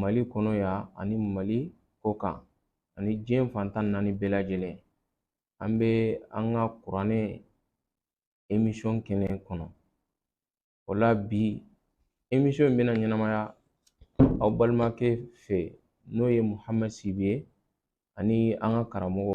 mali kɔnɔ yan ani mali kɔ kan ani diɲɛ fan tan ni naani bɛɛ lajɛlen an bɛ an ka kuranɛ emisɔn kɛnɛ kɔnɔ o la bi emisɔn in bɛna ɲɛnamaya aw balimakɛ fɛ n'o ye muhamɛd sibi ye ani an ka karamɔgɔ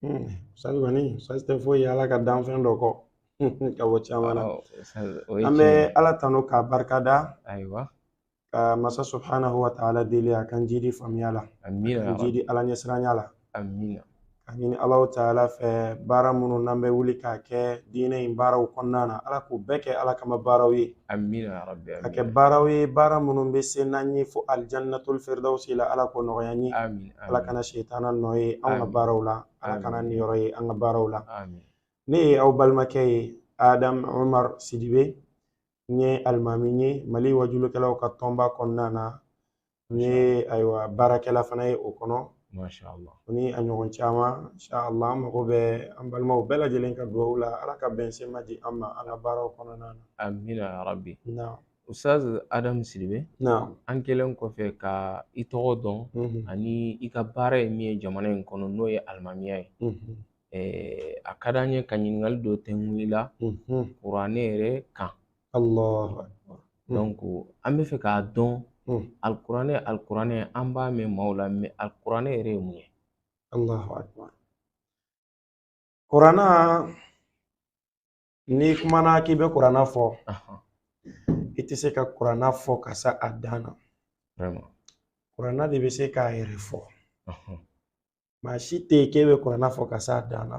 Hmm, ustaz kɔni ustaz tɛ foyi ye ala ka danfɛn dɔ kɔ ka bɔ caman na an bɛ ala tanu k'a barika da ayiwa ka masa subhanahu wa ta'ala deli a k'an jidi faamuya la k'an jidi ala ɲɛsiranya la ka ɲini alahu taala fɛ baara minnu n'an bɛ wuli k'a kɛ diinɛ in baaraw kɔnɔna na ala k'u bɛɛ kɛ ala kama baaraw ye Amina ya rabi amina. Ka kɛ baaraw ye baara minnu bɛ se n'an ye fo alijanatul firidawusi la Ala k'o nɔgɔya an ye. Amin. Ala kana sitana nɔ ye an ka baaraw la. Ala kana niyɔrɔ ye an ka baaraw la. Amin. Ne ye aw balimakɛ ye Adamu Umaru Sidibe. N ye alimami ye Mali waajulikɛlaw ka tɔnba kɔnɔna na. N ye ayiwa baarakɛla fana ye o kɔnɔ mashala o ni a ɲɔgɔn caman inshala an mago bɛ an balimaw bɛɛ lajɛlen ka dugawu la ala ka bɛnsenma di an ma an ka baaraw kɔnɔna na amina ya rabi ustaz adamu sidibe an kɛlen kɔfɛ ka i tɔgɔ dɔn ani i ka baara ye min ye jamana in kɔnɔ n'o ye alimamiya ye a ka di an ye ka ɲininkali dɔ tɛngun i la kuranɛ yɛrɛ kan Alahu akibaru. Donc an bɛ fɛ k'a dɔn alikuranɛ alikuranɛ an b'a mɛn maaw la mais alikuranɛ yɛrɛ ye mun ye? Alahu akibaru. Kurana n'i kumana k'i bɛ kurana fɔ i tɛ se ka kurana fɔ ka se a dan na. Vraiment. Kurana de bɛ se k'a yɛrɛ fɔ. Maa si tɛ yen k'e bɛ kurana fɔ ka se a dan na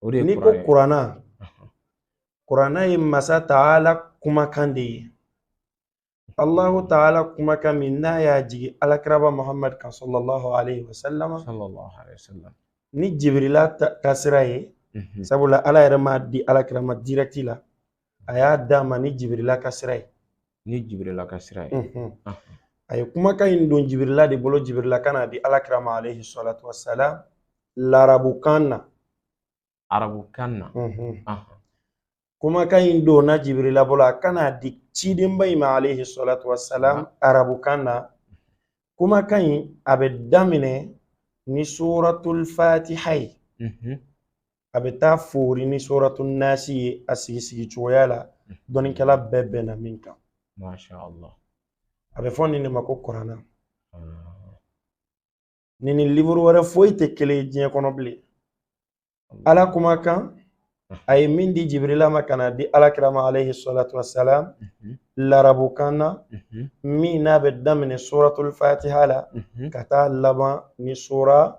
o de ye n'i ko kurana kurana ye masa taala kumakan de ye allahu taala kumakan min n'a y'a jigin alakiraba muhammad kan sallallahu alaihi wasallam sallallahu alaihi wasallam ni jibirila ka sira ye mhm. sabula ala yɛrɛ m'a di alakira ma dirɛkti la a y'a d'a ma ni jibirila ka sira ye Ni jibirila ka sira ye. A ye kumakan in don jibirila de bolo jibirila ka n'a di alakira ma alaihi salatu wasalam larabukan na. Arabukan na. Kumakan in donna jibirila bolo a ka n'a di cidenba in ma alaihi salatu wasalam arabukan na. Kumakan in a bɛ daminɛ ni suratul fatiha ye. a bɛ taa foori ni suratu nasi ye a sigi sigi cogoya la dɔnnikɛla bɛɛ bɛnna min kan a bɛ fɔ nin de ma ko kuranna nin ni liburu wɛrɛ foyi tɛ kelen ye diɲɛ kɔnɔ bilen ala kumakan a ye min di jibirila ma ka na di alakira ma alayhi salatu wasalam larabukan na min n'a bɛ daminɛ suratul fatiha la ka taa laban ni sura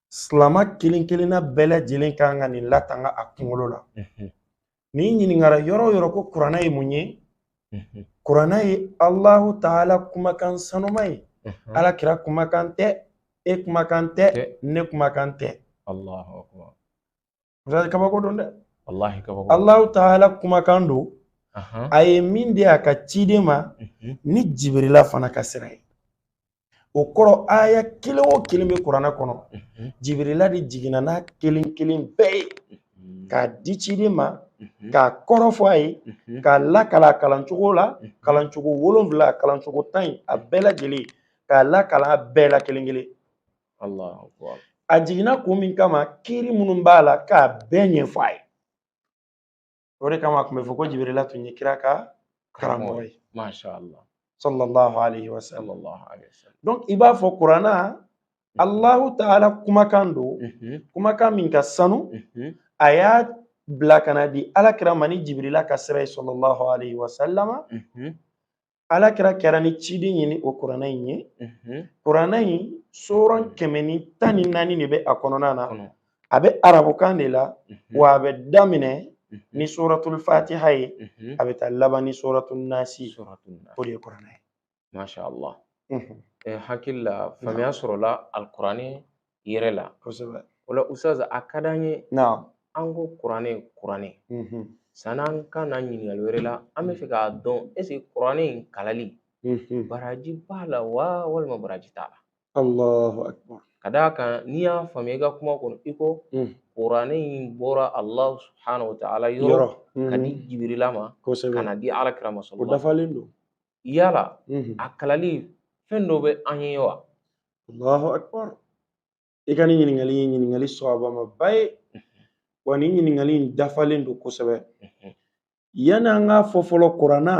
silama kelen kelenna bɛɛ lajɛlen kan ka nin latanga a kunkolo la n'i ɲininkara yɔrɔ o yɔrɔ ko kuranna ye mun ye kuranna ye alahu taala kumakan sanuma ye ala kira kumakan tɛ e kumakan tɛ ne kumakan tɛ Oustaz kabako don dɛ. Walahi kabako. Alahu taala kumakan don. A ye min di a ka ciden ma mhm. ni jibirila fana ka sira ye. o kɔrɔ aya kelen o kelen bɛ kuranɛ kɔnɔ mhm. jibirila de jiginna n'a kelen kelen bɛɛ ye mhm. k'a di ciden ma mhm. k'a kɔrɔ fɔ a ye k'a lakalan a kalancogo la kalancogo wolonfila kalancogo tan in a bɛɛ lajɛlen k'a lakalan a bɛɛ la kelen kelen a jiginna kun min kama kiiri minnu b'a la k'a bɛɛ ɲɛfɔ a ye o de kama a tun bɛ fɔ ko jibirila tun ye kira ka karamɔgɔ ye sallallahu alaihi wa sallam donc i b'a fɔ kuranna mhm. allahu taala kumakan don mhm. kumakan min ka sanu mhm. a y'a bila ka na di alakira ma ni jibirila ka sira ye sallallahu alaihi wa sallama alakira kɛra ni ciden ye ni o kuranɛ in ye kuranɛ in suran kɛmɛ ni tan ni naani de bɛ a kɔnɔna na a bɛ arabukan de la wa a bɛ daminɛ ni suratul fatiha ye a bɛ taa laban ni suratul nasi o de ye kuranɛ ye masha Allah hakili la faamuya sɔrɔla alikuranɛ yɛrɛ la kosɛbɛ o la Oustaz a ka d'an ye an ko kuranɛ kuranɛ sanni an ka na ɲininkali wɛrɛ la an bɛ fɛ k'a dɔn est-ce que kuranɛ in kalali baraji b'a la wa walima baraji t'a la ka d'a kan ne y'a faamuya i ka kuma kɔnɔ i ko kuranɛ in bɔra Alahu subahana wataala yɔrɔ ka di Jibirila ma ka na di alakira ma o dafalen don yala a kalali fɛn dɔ bɛ an ye wa allahu akbar i ka nin ɲininkali ye ɲininkali sawabamaba ye wa nin ɲininkali in dafalen don kosɛbɛ yanni an k'a fɔ fɔlɔ kuranna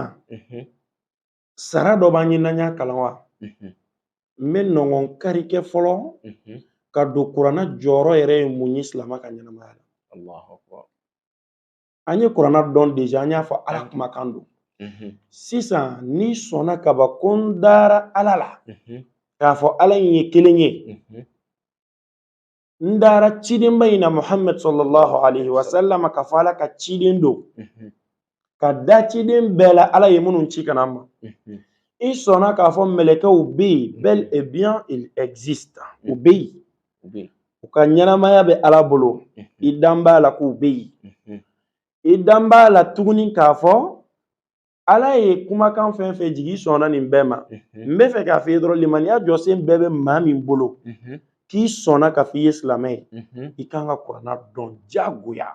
sara dɔ b'an ye n'an y'a kalan wa n bɛ nɔngɔn kari kɛ fɔlɔ k'a dɔn kuranna jɔyɔrɔ yɛrɛ ye mun ye silama ka ɲɛnamaya la an ye kuranna dɔn deja an y'a fɔ ala kumakan don sisan n'i sɔnna ka ban ko n dara ala la k'a fɔ ala in ye kelen ye n dara cidenba in na muhamad salalahu alayhi wa sallam k'a fɔ ala ka ciden don ka da ciden bɛɛ la ala ye minnu ci ka na an ma i sɔnna k'a fɔ mɛlɛkɛw bɛ yen bel et bien il existe u bɛ yen u bɛ yen u ka ɲɛnamaya bɛ ala bolo i dan b'a la k'u bɛ yen i dan b'a la tuguni k'a fɔ ala ye kumakan fɛn fɛn jigin i sɔnna nin bɛɛ ma n bɛ fɛ k'a f'i ye dɔrɔn limaniya jɔsen bɛɛ bɛ maa min bolo k'i sɔnna k'a f'i ye silamɛ ye i kan ka kuranna dɔn jagoya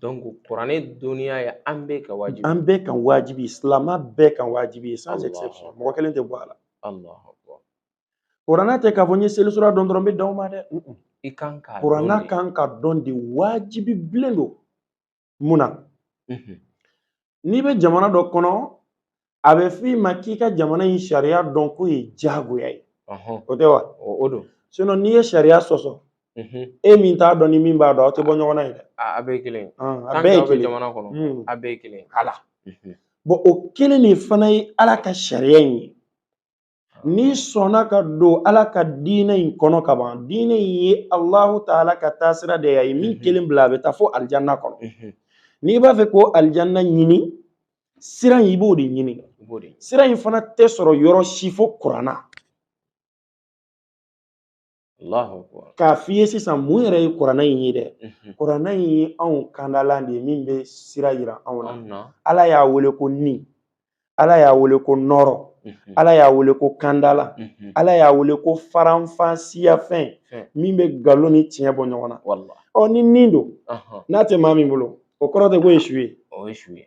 donc kuranɛ dɔnniya ye an bɛɛ ka wajibi an bɛɛ kan wajibi silamɛ bɛɛ kan wajibi ye sans exception mɔgɔ kelen tɛ bɔ a la kuranna tɛ k'a fɔ n ye selisura dɔn dɔrɔn n bɛ dan o ma dɛ i kan ka kuranna kan ka dɔn de wajibi bilen don mun na n'i bɛ jamana dɔ kɔnɔ a bɛ f'i ma k'i ka jamana in sariya dɔn k'o ye jagoya ye o tɛ wa o don sinon n'i ye sariya sɔsɔ e min t'a dɔn ni min b'a dɔn aw tɛ bɔ ɲɔgɔn na ye dɛ a bɛɛ ye kelen a bɛɛ ye kelen jamana kɔnɔ a bɛɛ ye kelen ala bon o kelen de fana ye ala ka sariya in ye n'i sɔnna ka don ala ka diinɛ in kɔnɔ ka ban diinɛ in ye alahu taala ka taasira de y'a ye min kelen bila a bɛ taa fo alijanna kɔnɔ n'i b'a fɛ k'o alijanna ɲini sira in i b'o de ɲini sira in fana tɛ sɔrɔ yɔrɔ si fo kuranna k'a f'i ye sisan mun yɛrɛ ye kuranna in ye dɛ kuranna in ye anw kandalan de ye min bɛ sira yira anw na ala y'a wele ko ni ala y'a wele ko nɔrɔ ala y'a wele ko kandala ala y'a wele ko faranfasiyafɛn min bɛ nkalon ni tiɲɛ bɔ ɲɔgɔn na ɔ ni nin don n'a tɛ maa min bolo o kɔrɔ tɛ k'o ye su ye o ye su ye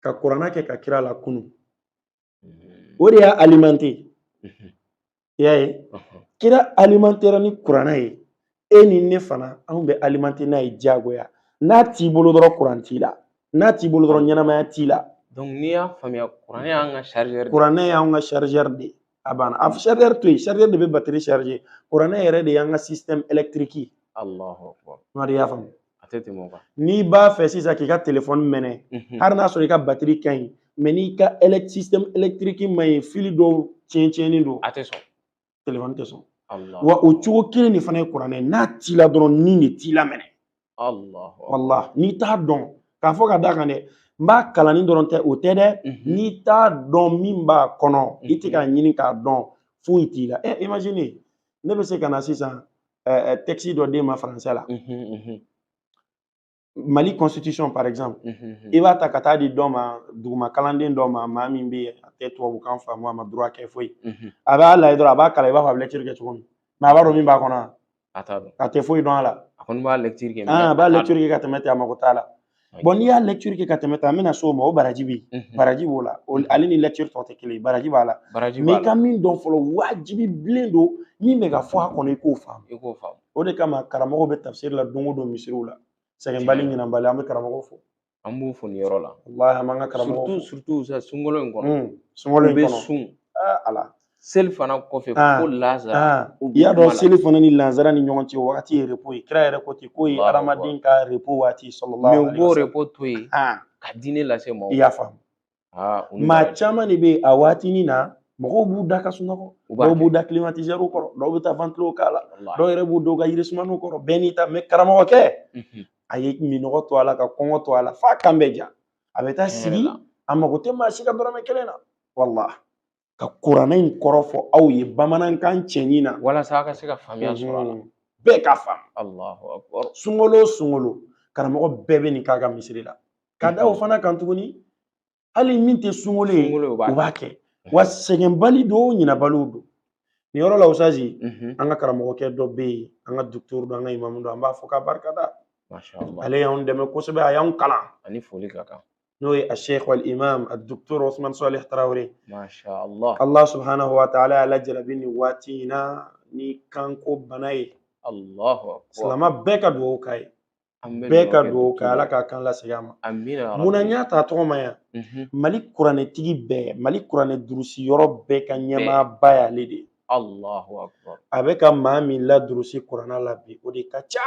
ka kuranna kɛ ka kira lakunu mm-hmm. o de y'a alimenter mm-hmm. i y'a ye uh-huh. kira alimentera ni kuranna ye e ni ne fana anw bɛ alimenter n'a ye jagoya n'a t'i bolo dɔrɔn kuran t'i la n'a t'i bolo dɔrɔn ɲɛnamaya t'i la n'i y'a faamuya kuranɛ y'an ka chargeur kuranɛ y'an ka chargeur de ye a banna a chargeur to yen chargeur de bɛ batiri charger kuranɛ yɛrɛ de y'an ka système électrique ye alahu akubar mari y'a faamu a tɛ tɛmɛ o kan n'i b'a fɛ sisan k'i ka telefɔni mɛnɛ Mhm. hali n'a sɔrɔ i ka batiri ka ɲi mais n'i ka elec- système électrique man ɲi fili dɔw tiɲɛ tiɲɛnen don a tɛ sɔn telefɔni tɛ sɔn alahu wa o cogo kelen de fana ye kuranɛ ye n'a t'i la dɔrɔn ni de t'i la minɛ walahi n'i t'a dɔn k'a fɔ ka d'a kan dɛ n b'a kalanni dɔrɔn tɛ o tɛ dɛ mhm. n'i t'a dɔn min b'a kɔnɔ i tɛ k'a mhm. ɲini k'a dɔn foyi t'i la ɛ eh, imagine ne bɛ se ka na sisan eh, eh, texte dɔ d'e ma français la mhm, mali constitution par exemple i b'a ta ka taa di dɔ ma duguma kalanden dɔ ma maa min bɛ a tɛ tubabukan faamu a ma droit kɛ foyi a b'a lajɛ dɔrɔn a b'a kalan i b'a fɔ a bɛ lecture kɛ cogo min mais a b'a dɔn min b'a kɔnɔ a t'a dɔn a tɛ foyi dɔn a la a kɔni b'a lecture kɛ ah, a b'a lecture kɛ ka tɛmɛ ten a mago t'a la bon n'i y'a lecture kɛ ka tɛmɛ ten an bɛna s'o ma o baraji bɛ yen baraji b'o la ale ni lecture tɔ tɛ kelen ye baraji b'a la mais i ka min dɔn fɔlɔ wajibi bilen don min bɛ ka fɔ a kɔnɔ i k'o faamu i k'o faamu o de kama karamɔgɔw bɛ tafsiri la don o don misiriw la sɛgɛnbali ɲinanbali an bɛ karamɔgɔw fo an b'u fo nin yɔrɔ la walahi an b'an ka karamɔgɔw fo surtout sa sunkalo in kɔnɔ hmm, sunkalo in kɔnɔ u bɛ sun ah, ala selifana kɔfɛ ah, fo lazara ah, i y'a dɔn selifana ni lazara ni ɲɔgɔn cɛ wagati ye repos ye kira yɛrɛ ko ten k'o ye hadamaden ka repos waati sallallahu alaihi wasallam mais u b'o repos to yen ka diinɛ lase mɔgɔw ma i y'a faamu maa caman de bɛ yen a waatinin na mɔgɔw b'u da ka sunɔgɔ dɔw b'u da kilimatizɛriw kɔrɔ dɔw bɛ taa wantilo k'a la dɔw yɛrɛ b'u da u ka yirisumanw kɔrɔ bɛɛ n'i ta mais karamɔgɔkɛ a ye minnɔgɔ to a la ka kɔngɔ to a la f'a kan bɛ ja a bɛ taa sigi a mago tɛ maa si ka dɔrɔmɛ kelen na walahi ka kuranɛ in kɔrɔ fɔ aw ye bamanankan cɛɲi na walasa aw ka se ka faamuya sɔrɔ a la bɛɛ ka faamu sunkalo o sunkalo karamɔgɔ bɛɛ bɛ nin k'a ka misiri la ka da o fana kan tuguni hali min tɛ sunkalo ye u b'a kɛ wa sɛgɛnbali don ɲinabaliw don nin yɔrɔ la usazi an ka karamɔgɔkɛ dɔ bɛ yen an ka docteur don an ka imamu don an b'a fo k'a barika da ale y'an dɛmɛ kosɛbɛ a y'an kalan ani foli ka kan n'o ye a sheikh wal imam a doctor Ousmane Salih Traoré masha Allah Allah subhanahu wa ta'ala y'a lajarabi nin waati in na ni kanko bana ye Allahu akbar silama bɛɛ ka dugawu k'a ye bɛɛ ka dugawu kɛ ala k'a kan lasegin a ma amina mun na n y'a ta tɔgɔma yan mhm. mali kuranɛtigi bɛɛ mali kuranɛ durusi yɔrɔ bɛɛ ka ɲɛmaaba y'ale de ye Allahu akbar a bɛ ka maa min ladurusi kuranɛ la bi o de ka ca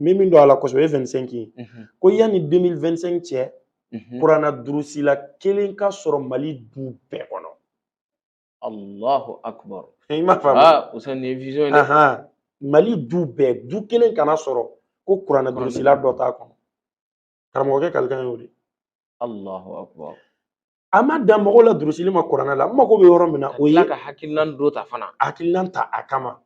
n bɛ min dɔn a la kosɛbɛ o ye 25 ye ko yanni 2025 cɛ kuranɛ durusila kelen ka sɔrɔ mali du bɛɛ kɔnɔ alahu akubar i m'a faamu ah, o ni vision ye dɛ mali du bɛɛ du kelen kana sɔrɔ ko kuranɛ durusila dɔ t'a kɔnɔ karamɔgɔkɛ kalikan y'o de ye Allahu akbar a ma dan mɔgɔw ladurusili ma kuranɛ la n mago bɛ yɔrɔ min na o ye ka hakilinan dɔ ta fana hakilinan ta a kama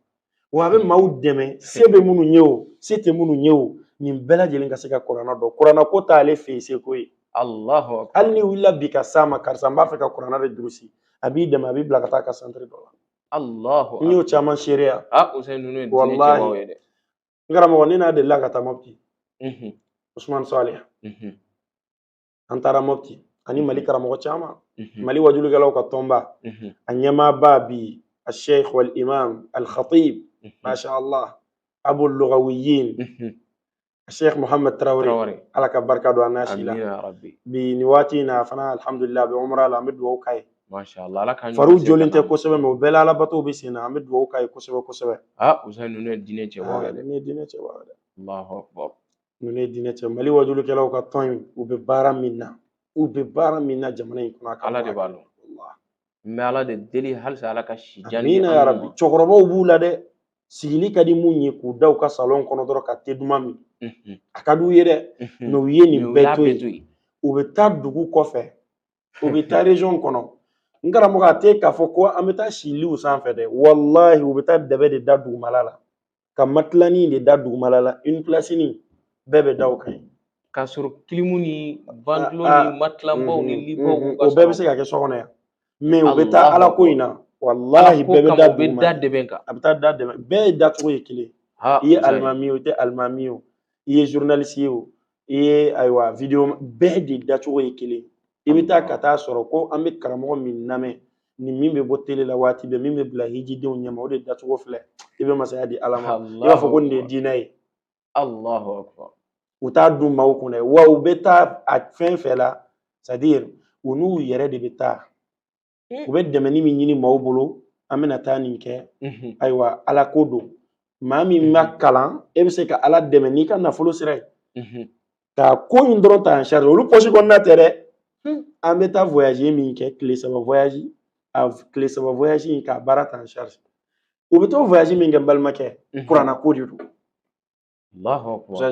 wa a bɛ maaw dɛmɛ se bɛ minnu ye o se tɛ minnu ye o nin bɛɛ lajɛlen ka se ka kuranɛ dɔn kuranɛ ko t'ale fɛ yen seko ye Allahu akbar hali n'i wulila bi ka s'a ma karisa n b'a fɛ ka kuranɛ de durusi a b'i dɛmɛ a b'i bila ka taa a ka santiri dɔ la Allahu n y'o caman seereya a o sɛ ninnu ye diinɛ cɛbaw ye dɛ n karamɔgɔ ne n'a delila ka taa mɔpti usman salih an taara mɔpti ani mali karamɔgɔ caman mali wajulikɛlaw ka tɔnba a ɲɛmaaba bi a sheikh wal imam al khatib masha allah abu lugawiyin a sheikh muhammad traoré ala ka barika don an n'a si la bi nin waati in na fana alhamdulillah a bɛ umra la an bɛ dugawu k'a ye Masha Allah Ala ka fariw jɔlen tɛ kosɛbɛ mais o bɛɛ la alabatow bɛ sen na an bɛ dugawu k'a ye kosɛbɛ kosɛbɛ aa Usain ninnu ye diinɛ cɛbaaw ye dɛ ninnu ye diinɛ cɛbaaw ye dɛ Alahu akbar ninnu ye diinɛ cɛ Mali wajulikɛlaw ka tɔn in u bɛ baara min na u bɛ baara min na jamana in kɔnɔ a ka Ala de b'a dɔn n bɛ Ala de deli halisa Ala ka si jan di amina yarabi cɛkɔrɔbaw b'u la dɛ sigili ka di minnu ye k'u da u ka salɔn kɔnɔ dɔrɔn ka te duman min a ka d'u ye dɛ mais u ye nin bɛɛ to yen u bɛ taa dugu kɔfɛ u bɛ taa région kɔnɔ n karamɔgɔ a tɛ k'a fɔ ko an bɛ taa si liw sanfɛ dɛ walahi u bɛ taa dɛbɛ de da dugumala la ka matilanin de da dugumala la une pilasinin bɛɛ bɛ da o kan k'a sɔrɔ kilimu ni ventilo ah, ah. ni matilanbaw ni mm-hmm. libaw mm-hmm. o bɛɛ bɛ se ka kɛ so kɔnɔ yan mais u bɛ taa ala ko in na walahi bɛɛ bɛ da duguma a bɛ taa da dɛmɛ bɛɛ de dacogo ye kelen i ye alimami ye o i tɛ alimami ye o i ye journaliste ye o i ye ayiwa videoman bɛɛ de dacogo ye kelen i bɛ taa ka taa sɔrɔ ko an bɛ karamɔgɔ min lamɛn ni min bɛ bɔ tele la waati bɛɛ min bɛ bila hijidenw ɲɛma o de dacogo filɛ i bɛ masaya di ala ma i b'a fɔ ko nin de ye diinɛ ye allahu akbar u t'a dun maaw kun dɛ wa u bɛ taa a fɛn fɛn la c'est-à-dire u n'u yɛrɛ de bɛ taa mm. u bɛ dɛmɛni min ɲini maaw bolo an bɛna taa nin kɛ mm-hmm. ayiwa ala ko don maa min ma mm-hmm. kalan e bɛ se ka ala dɛmɛ n'i ka nafolo sira ye mm-hmm. ka ko in dɔrɔn ta en charge olu pɔsi kɔnɔna tɛ dɛ hmm. an bɛ taa voyage min kɛ tile saba voyage a tile saba voyage in k'a baara ta en charge u bɛ t'o voyage min kɛ n balimakɛ kuranna ko de don n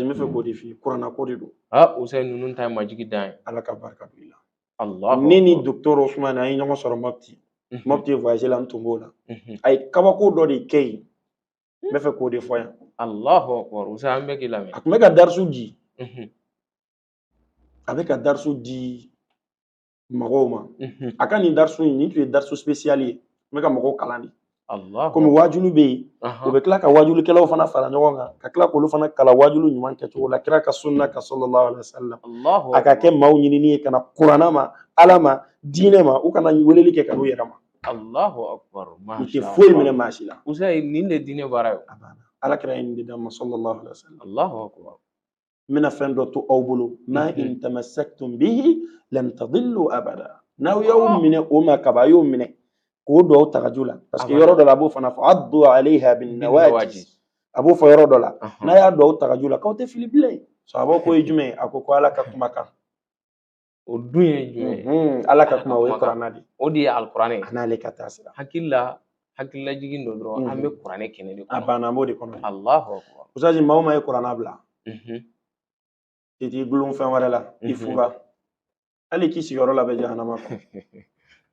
bɛ fɛ k'o de f'i ye kuranna ko de don usain ninnu ta ye majigi dan ye ala ka barika don i la ne ni docteur usman an ye ɲɔgɔn sɔrɔ mopti mopti voyage la n tun b'o la a ye kabako dɔ de kɛ yen n bɛ fɛ k'o de fɔ yan usain an bɛ k'i lamɛn a tun bɛ ka darisu di a bɛ ka darisu di mɔgɔw ma a ka nin darisu in nin tun ye darisu spécial ye n bɛ ka mɔgɔw kalan de komi waajulu bɛ yen u bɛ tila ka waajulikɛlaw fana fara ɲɔgɔn kan ka tila k'olu fana kalan waajulu ɲuman kɛcogo la kira ka sunna kan sallallahu alaihi wasallam a ka kɛ maaw ɲinini ye ka na kuranna ma ala ma diinɛ ma u kana weleli kɛ ka n'u yɛrɛ ma Allahu akbar u tɛ foyi minɛ maa si la usain nin de diinɛ baara ye ala kira ye nin de d'an ma sallallahu alaihi wasallam Allahu akbar n bɛna fɛn dɔ to aw bolo ma mhm. in tamassaktum bihi lan tadillu abada n'aw y'aw oh. minɛ o ma kaba a y'o minɛ k'o don aw tagaju la parce que yɔrɔ dɔ la a b'o fana fɔ addu alayha bin nawajiz a b'o fɔ yɔrɔ dɔ la n'a y'a don aw tagaju la k'aw tɛ fili bilen sahabaw k'o ye jumɛn ye a ko ko ala ka kuma kan o dun ye jumɛn ye ala ka kuma o ye kurana de o de ye alikuranɛ ye n'ale ka taasira hakili la hakililajigin don dɔrɔn an bɛ kuranɛ kɛnɛ de kɔnɔ a banna b'o de kɔnɔ alahu ustazi maa o maa ye kurana bila i t'i dulon fɛn wɛrɛ la i fura hali k'i sigiyɔrɔ labɛn jahanama kɔnɔ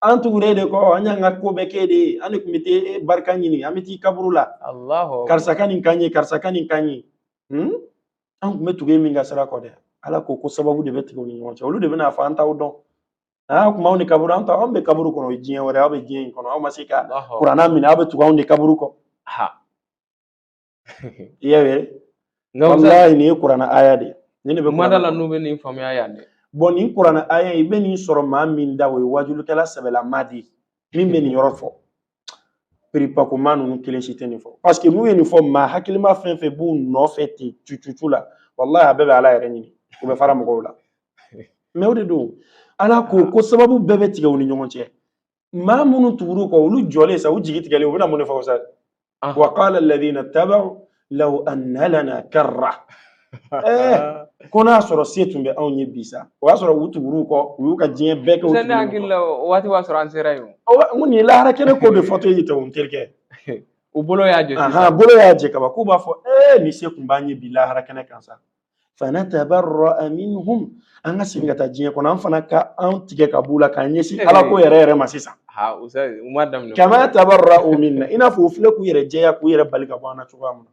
an tugur'e de kɔ an y'an ka ko bɛɛ k'e de ye an de tun bɛ t'i barika ɲini an bɛ t'i kaburu la karisa ka nin k'an ye karisa ka nin k'an ye hmm? an tun bɛ tugu min ka sira kɔ dɛ ala ko ko sababu de bɛ tigɛ u ni ɲɔgɔn cɛ olu de bɛna fɔ an t'aw dɔn aa kuma aw ni kaburu an ta anw bɛ kaburu kɔnɔ o ye diɲɛ wɛrɛ aw bɛ diɲɛ in kɔnɔ aw ma se ka kurana minɛ aw bɛ tugu anw de kaburu kɔ i y'a ye walayi nin ye kuranɛ aya de ye ni nin bɛ maa da la n'u bɛ nin faamuya yan dɛ bon nin kuranɛ aya i bɛ nin sɔrɔ maa min da o ye wajulikɛla sɛbɛla maa de ye min bɛ nin yɔrɔ fɔ perepakoma ninnu kelen si tɛ nin fɔ parce que n'u ye nin fɔ maa hakilima fɛn fɛn b'u nɔfɛ ten cucucu la walayi a bɛɛ bɛ ala yɛrɛ ɲini u bɛ fara mɔgɔw la mais o de don ala ko ko sababu bɛɛ bɛ tigɛ u ni ɲɔgɔn cɛ maa minnu tugur'u kɔ olu jɔlen sa u jigi tigɛlen u bɛna mun de fɔ sa Aha. wa qala alladhina taba'u law anna lana karra Eh, ko n'a sɔrɔ se tun bɛ anw ye bi sa o y'a sɔrɔ u tugur'u kɔ u y'u ka diɲɛ bɛɛ kɛ u Sani tugur'u hakili kɔ. la o waati b'a sɔrɔ an sera yen o. Awa, n ko nin ye lahara kɛnɛ ko de fɔtɔ ye ten o n terikɛ U bolo y'a jɛ sisan. ahan bolo y'a jɛ kaba k'u b'a fɔ ee ni se tun b'an ye bi lahara kɛnɛ kan sa fanatabarra'a minhum an ka segin ka taa diɲɛ kɔnɔ an fana ka an tigɛ ka b'u la k'an ɲɛsin ala ko yɛrɛ yɛrɛ ma sisan kama tabarra'u minna i n'a fɔ u filɛ k'u yɛrɛ jɛya k'u yɛrɛ bali ka bɔ an na cogoya min na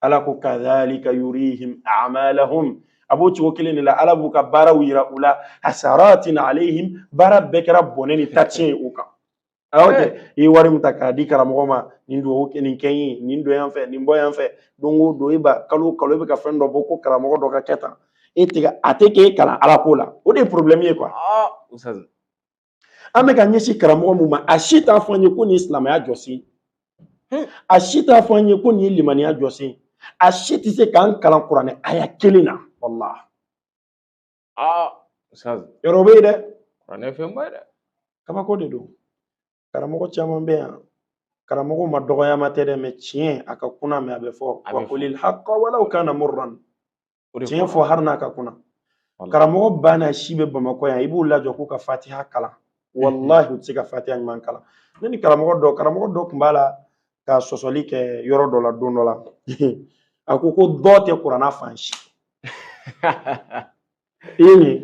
ala ko kadhalika yurihim a'malahum a b'o cogo kelen de la ala b'u ka baaraw yira u la hasaratin alayhim baara bɛɛ kɛra bɔnɛ ni tatiɲɛ ye u kan Ah, ok eh. i ye wari min ta k'a di karamɔgɔ ma nin dugawu nin kɛ ye nin don yan fɛ nin bɔ yan fɛ don o don e ba kalo o kalo e bɛ ka fɛn dɔ bɔ ko karamɔgɔ dɔ k'a kɛ tan e tɛ a tɛ k'e kalan ala ko la o de ye problème ye quoi. Ah, an bɛ k'an ɲɛsin karamɔgɔ min ma a si t'a fɔ an ye ko nin ye silamɛya jɔsen hmm. a si t'a fɔ an ye ko nin ye limaniya jɔsen a si tɛ se k'an kalan kuranɛ aya kelen na walahi. aa ustaz yɔrɔ bɛ yen dɛ kuranɛ fɛnba ye dɛ kabako de don karamɔgɔ caman bɛ yan karamɔgɔ ma dɔgɔyama tɛ dɛ mais tiɲɛ a ka kunan mais a bɛ fɔ A bɛ wa fɔ. qulil haqqa walaw kana murran O de tiɲɛ kɔrɔ. fɔ hali n'a ka kunan Wala. karamɔgɔ banna si bɛ bamakɔ yan i b'u lajɔ k'u ka fatiha kalan walahi u tɛ se ka fatiha ɲuman kalan ne ni karamɔgɔ dɔ karamɔgɔ dɔ tun b'a la ka sɔsɔli kɛ yɔrɔ dɔ la don dɔ la a ko ko dɔ tɛ kuranna fan si i ye nin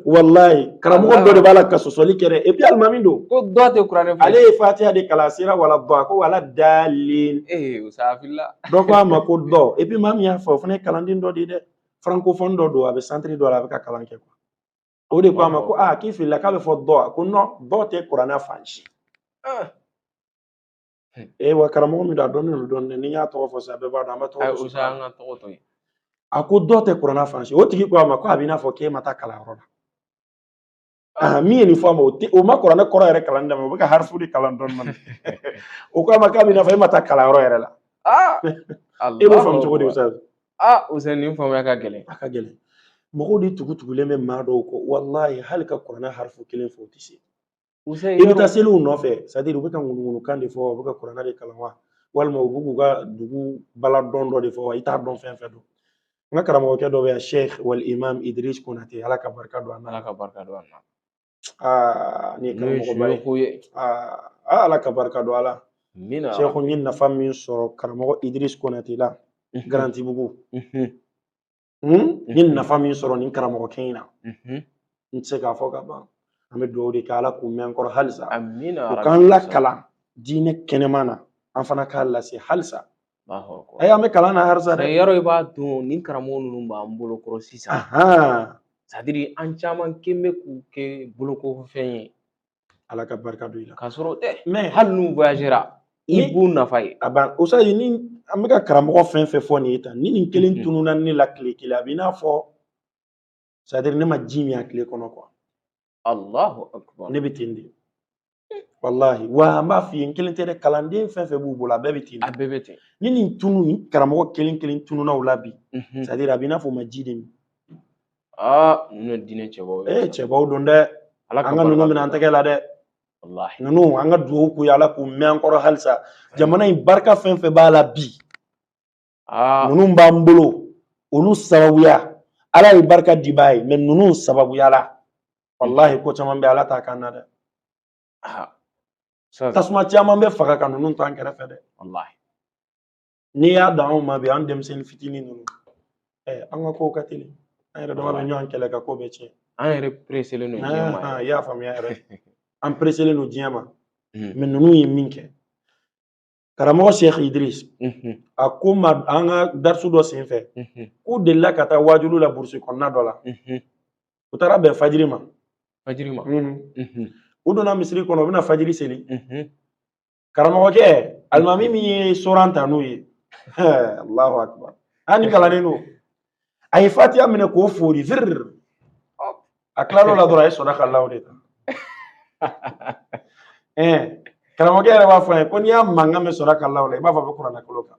walayi karamɔgɔ dɔ de b'a la ka sɔsɔli kɛ dɛ epi alimami don ko dɔ tɛ kuranɛ fɛ ale ye fatiya de kalan a sera wala dɔ a ko wala dalin ee o sa filila dɔ ko a ma ko dɔ epi maa min y'a fɔ o fana ye kalanden dɔ de ye dɛ francophone dɔ don a bɛ santiri dɔ la a bɛ ka kalan kɛ kuwa o de ko a ma ko aa k'i filila k'a bɛ fɔ dɔ a ko nɔn dɔ tɛ kuranna fan si ee wa karamɔgɔ min don a dɔnnen don dɔɔnin n'i y'a tɔgɔ fɔ sisan bɛɛ b'a dɔn an bɛ tɔgɔ fɔ sisan an ka tɔgɔ to yen a ko dɔ tɛ kuranna fan si o tigi ko a ma ko a b'i n'a fɔ k'e ma taa kalanyɔrɔ la Ah, min ye nin fɔ a ma o tɛ o ma kuranɛ kɔrɔ yɛrɛ kalan daminɛ o bɛ ka harifu de kalan dɔɔni dɔɔni o ko a ma k'a b'i n'a fɔ e ma taa kalanyɔrɔ yɛrɛ la ah, e b'o faamu cogo di Usazi ah Usazi nin faamuya ka gɛlɛn a ka gɛlɛn mɔgɔw de tugutugulen bɛ maa dɔw kɔ walayi hali ka kuranɛ harifu kelen fɔ o tɛ se i bɛ taa seli u nɔfɛ sadiri u bɛ ka ŋunuŋunukan de fɔ u bɛ ka kuranɛ de kalan wa walima u bɛ k'u ka dugu bala dɔn dɔ de fɔ wa i t'a dɔn fɛn fɛn don n ka karamɔgɔkɛ dɔ bɛ yan sheikh wal imam idris konate ala ka barika don a na ala ka barika don a na aa ni karamɔgɔba ye aa ala ka barika don a la sheikh n ye nafa min sɔrɔ karamɔgɔ idris konate la garantibugu n ye nafa min sɔrɔ nin karamɔgɔkɛ in na n tɛ se k'a fɔ ka ban an bɛ dugawu de kɛ ala k'u mɛn an kɔrɔ halisa u k'an lakalan diinɛ kɛnɛma na an fana k'a lase halisa ayi an bɛ kalan na halisa dɛ yɔrɔ i b'a dɔn nin karamɔgɔ ninnu b'an bolo kɔrɔ sisan sadiri an caman kɛ bɛ k'u kɛ bolokɔfɛn ye ala ka barika don i la k'a sɔrɔ mɛ hali n'u voyagera i b'u nafa ye a ban Usazi ni an bɛ ka karamɔgɔ fɛn fɛn fɔ nin ye tan ni nin kelen mhm. tununna ne la tile kelen a b'i n'a fɔ sadiri ne ma ji min a tile kɔnɔ kuwa alahu akubar ne bɛ ten de walahi wa an b'a f'i ye n kelen tɛ dɛ kalanden fɛn fɛn b'u bolo a bɛɛ bɛ ten a bɛɛ bɛ ten ni nin tunu karamɔgɔ kelen kelen tununna o la bi sadiri mhm. a b'i n'a fɔ u ma ji de min aa ninnu ye diinɛ cɛbaw ye ee cɛbaw don dɛ an ka ninnu minɛ an tɛgɛ la dɛ walahi ninnu an ka dugawu k'u ye ala k'u mɛn an kɔrɔ halisa jamana in barika fɛn fɛn b'a la bi aa ninnu b'an bolo olu sababuya ala ye barika dibaa ye mɛ ninnu sababuya la walahi ko caman bɛ ala t'a k'an na dɛ aa, sa- tasuma caman bɛ faga ka ninnu to an kɛrɛfɛ dɛ walahi n'i y'a dan anw ma bi an denmisɛnnin fitinin ninnu ɛ an ka kow ka teli an yɛrɛ dama bɛ ɲɔgɔn kɛlɛ ka ko bɛɛ tiɲɛ an yɛrɛ pereselen don diɲɛ ma i y'a faamuya yɛrɛ an pereselen don diɲɛ ma mɛ ninnu ye min kɛ karamɔgɔ sheikh idris a ko an ma an ka darisu dɔ senfɛ k'u delila ka taa wajulu la burusi kɔnɔna dɔ la u taara bɛn fajiri ma u donna misiri kɔnɔ u bɛna fajiri seli karamɔgɔkɛ alimami min ye soran ta n'o ye alahu akubar an ni kalannen don a ye fatiya minɛ k'o fori virir a tilal'o la dɔrɔn a ye sadakallahu de ta karamɔgɔkɛ yɛrɛ b'a fɔ a ye ko n'i y'a mankan mɛn sadakallahu la i b'a fɔ a bɛ kuranɛ kalan kan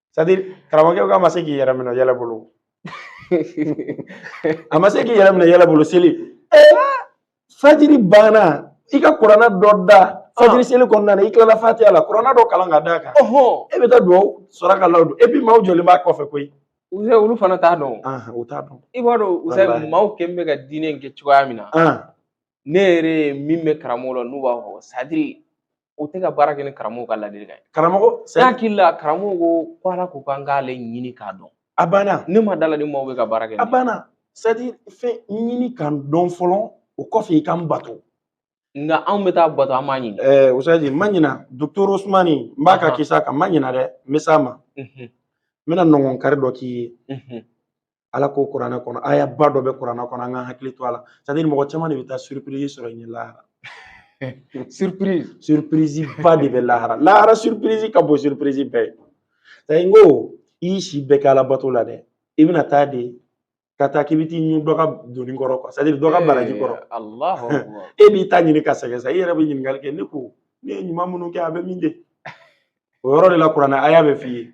karamɔgɔkɛ k'a ma se k'i yɛrɛ minɛ yɛlɛ bolo a ma se k'i yɛrɛ minɛ yɛlɛ bolo seli fajiri banna i ka kuranɛ dɔ da fajiri seli kɔnɔna na i tilala fatiya la kuranɛ dɔ kalan ka d'a kan e bɛ taa dugawu sadakallahu don et puis maaw jɔlen b'a kɔfɛ koyi Usa olu fana t'a dɔn u t'a dɔn i b'a dɔn Usa maaw kɛlen bɛ ka diinɛ in kɛ cogoya min na ne yɛrɛ min bɛ karamɔgɔ la n'u b'a fɔ sadiri u tɛ ka baara kɛ ni karamɔgɔ ka ladilikan ye karamɔgɔ ne hakili la karamɔgɔ ko ko ala ko k'an k'ale ɲini k'a dɔn a banna ne ma dala ni maaw bɛ ka baara kɛ a banna sadiri fɛn ɲini ka n dɔn fɔlɔ o kɔfɛ i ka n bato nka anw bɛ taa bato an m'a ɲini ɛɛ ustazi n ma ɲina dɔkitɛri osumani n b'a ka kisa kan n ma ɲina dɛ n bɛ s'a ma n bɛna nɔngɔn kari dɔ k'i ye ala ko kuranɛ kɔnɔ aya ba dɔ bɛ kuranɛ kɔnɔ an ka hakili to a la sadiri mɔgɔ caman de bɛ taa surprise sɔrɔ ɲɛ lahara surprise surprise ba de bɛ lahara lahara surprise ka bon surprise bɛ yen sayi n ko i y'i si bɛɛ kɛ ala bato la dɛ i bɛna taa de ka taa k'i bɛ t'i ɲun dɔ ka doni kɔrɔ quoi sadiri dɔ ka baraji kɔrɔ e b'i ta ɲini ka sɛgɛn sa i yɛrɛ bɛ ɲininkali kɛ ne ko ne ye ɲuman minnu kɛ a bɛ min de o yɔrɔ de la kuranɛ aya b'a f'i ye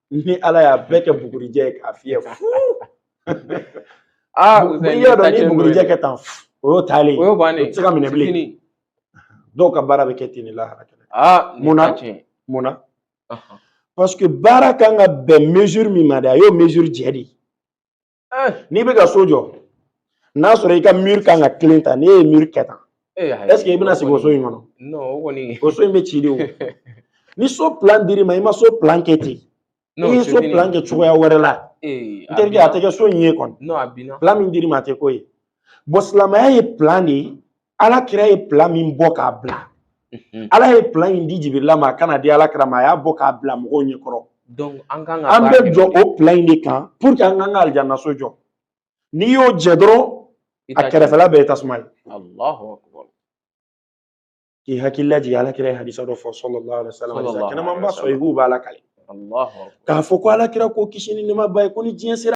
ni ala y'a bɛɛ kɛ bugurijɛ ye k'a fiyɛ aa n'i y'a dɔn ni bugurijɛ kɛ tan o y'o taalen o y'o bannen o tɛ se ka minɛ bilen dɔw ka baara bɛ kɛ ten de lahara kɛnɛ aa munna munna parce que baara kan ka bɛn mesure min ma de a y'o mesure jɛ de eh. n'i bɛ ka so jɔ n'a sɔrɔ i ka mur kan ka tilen tan n'e ye mur kɛ tan est-ce que eh, i bɛna sigi o so in kɔnɔ o so in bɛ ci de o ni so plan dir'i ma i ma so plan kɛ ten i ye so plan kɛ cogoya wɛrɛ la eh, n terikɛ a tɛ kɛ so in ye kɔni plan min dir'i ma a tɛ k'o ye bon silamɛya ye plan de ye ala kira ye plan min bɔ k'a bila mhm. ala ye plan in di jibirila ma a ka n'a di ala kira ma a y'a bɔ k'a bila mɔgɔw ɲɛkɔrɔ an kan ka an bɛ jɔ o plan in de kan pour que an k'an ka alijanna so jɔ n'i y'o jɛ dɔrɔn a kɛrɛfɛla bɛɛ ye tasuma ye k'i hakili lajigin ala kira ye hadisa dɔ fɔ sallallahu alaihi wasallam kɛnɛmanba sɔhihu b'a lakali k'a fɔ ko ala kira ko kisi ni nɛɛma b'a ye ko ni diɲɛ sera